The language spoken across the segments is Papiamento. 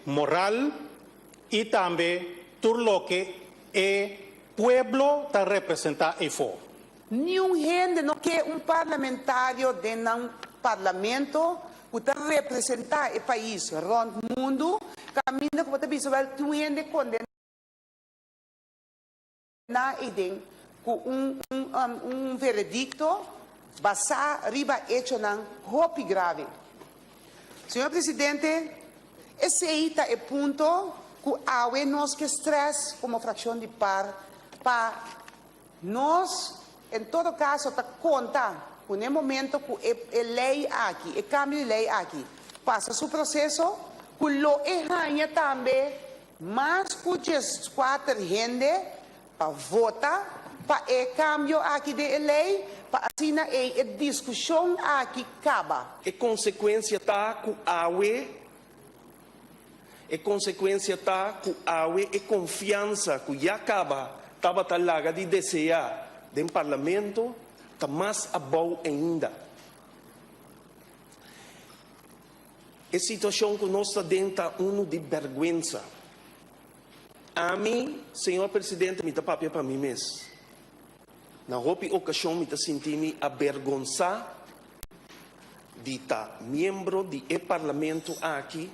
moral y tambe tur loke e pueblo ta representa eyfo. Niun hende no ke un parlamentario den nan parlamento cu ta representa e pais rond mundo, caminda cu bo ta bisa wel tin un hende condená. Na Eden cu un veredicto basá riba hechonan hopi grave. Señor Presidente, esey ta e punto cu awe nos ke stress como fraccion di par pa nos en todo caso ta conta cu n'e momento cu e ley aki, e cambio di ley aki pasa su proceso, cu lo e haña tambe Mas cu diescuater hende pa vota pa e cambio aki den e ley pa asina ey e discusion aki caba. E consecuencia ta cu awe e consecuencia ta cu awe e confiansa cu ya caba tabata laga di desea den Parlamento ta mas abao ainda. E situacion cu nos ta den ta unu di berguensa. Ami, Señor Presidente, mi ta papia pa mi mes. Na hopi ocasion mi ta sinti mi abergonsa di ta miembro di e Parlamento aki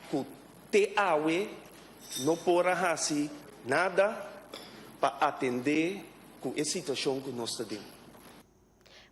cu te awe no por a haci nada pa atende cu e situacion cu nos ta den.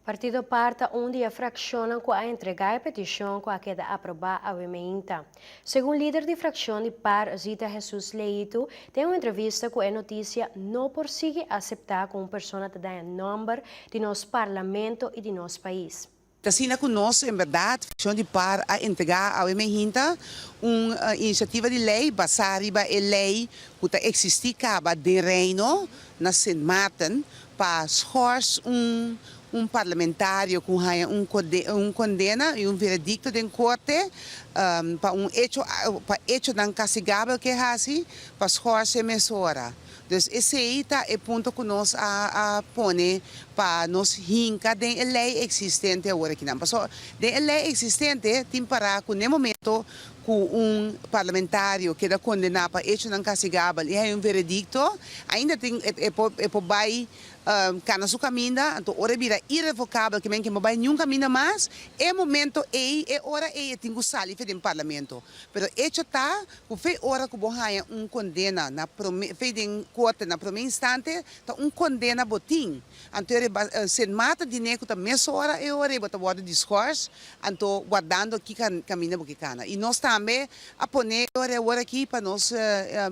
Partido Par ta un di e frakshonnan ku a entregá e petishon ku a keda aprobá awe meinta. Segun lider di frakshon di Par, Zita Hesus Leitu, den un entrevista ku e Notisia, no por sigui aseptá ku un persona ta daña nòmber di nos parlamento i di nos pais. T asina ku nos en bèrdat frakshon di Par a entregá awe meinta un inishativa di lei basá riba e lei ku ta eksistí kaba den Reino na Sint Maarten Pa Schors, un un parlamentario cu haya un un condena y un veredicto den corte pa un hecho pa hechonan castigabel cu e haci, pa Schors e mesora. Dus esey ta e punto cu nos a a pone pa nos hinca den e ley existente aworekinan. Pasobra den e ley existente tin para cu n'e momento cu un parlamentario keda condena pa hechonan castigabel y hay un veredicto, ainda tin e e por bay cana su caminda, anto ora e bira irrevocabel kimen ke no bay niun caminda mas, e momento ey, e ora ey e tin cu sali fe den parlamento. Pero hecho ta cu fe ora cu bo haya un condena na prome, fe den corte na prome instante ta un condena bo tin. Anto e riba Sint Maarten di Neku ta mes ora e ora e bo ta worde diskors, anto wardando ki kaminda bo ke kana. I nos tambe a pone e ora e ora aki pa nos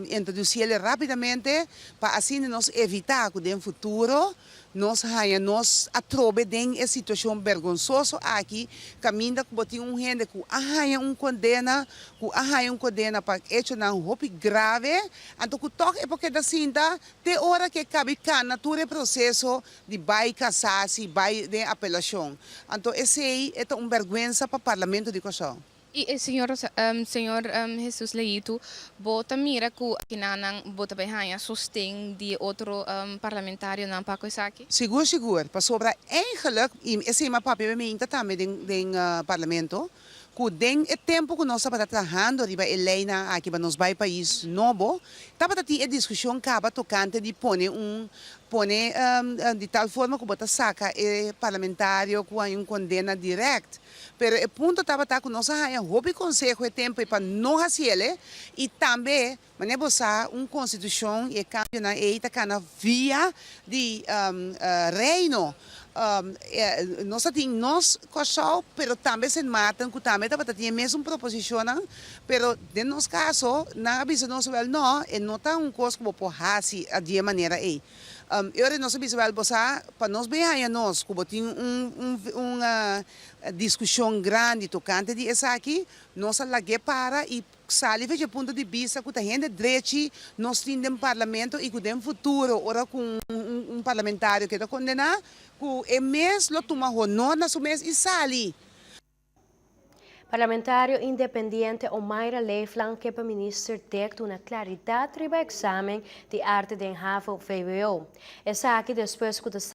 introduci el rapidamente pa asina nos evita cu den futuro nos haya nos atrobe den e situacion bergonsoso aki kaminda cu bo tin un hende cu a haya un condena, cu a haya un condena pa hechonan hopi grave, anto cu tok e por keda sinta Te ora ke kabi kana tur e proseso di bai kasasi, bai den apelashon. Anto esei e ta un bèrgwensa pa Parlamento di Kòrsou. I e señor señor Hesus Leitu, bo ta mira ku akinanan bo ta bai haña sosten di e otro parlamentarionan pa ku esaki? Sigur, sigur, pasobra eingelek i esei mi a papia bemeinta tambe den den Parlamento. cu den e tempo cu nos tabata trahando riba e leynan aki pa nos bay pais nobo, tabata tin e discusion caba tocante di pone un pone di tal forma cu bo ta saca e parlamentario cu hay un condena direct. Pero e punto tabata cu nos a haya hopi conseho e tempo y pa no haciele y tambe Mane bo sa, un konstitushon i e kambionan ei ta kana via di Reino. Nos ta tin nos Kòrsou, pero tambe Sint Maarten ku tambe tabata tin e mesun proposishonnan, pero den nos kaso nan a bisa nos wèl nò, e no ta un kos ku bo por hasi di e manera ei. E ora nos a bisa wèl bo sa, pa nos bin haña nos ku bo tin un diskushon grandi tokante di esaki, nos a lag'é para i Xalive dje punto di bista cu ta hende drechi nos tin den Parlamento y cu den futuro ora cu un parlamentario keda condena cu e mes lo tuma honor na su mes y sali. Parlamentario independiente Omaira Leefland ke pa Minister Dek duna claridad riba examen di arte den havo, vwo. Esaki despues cu ta.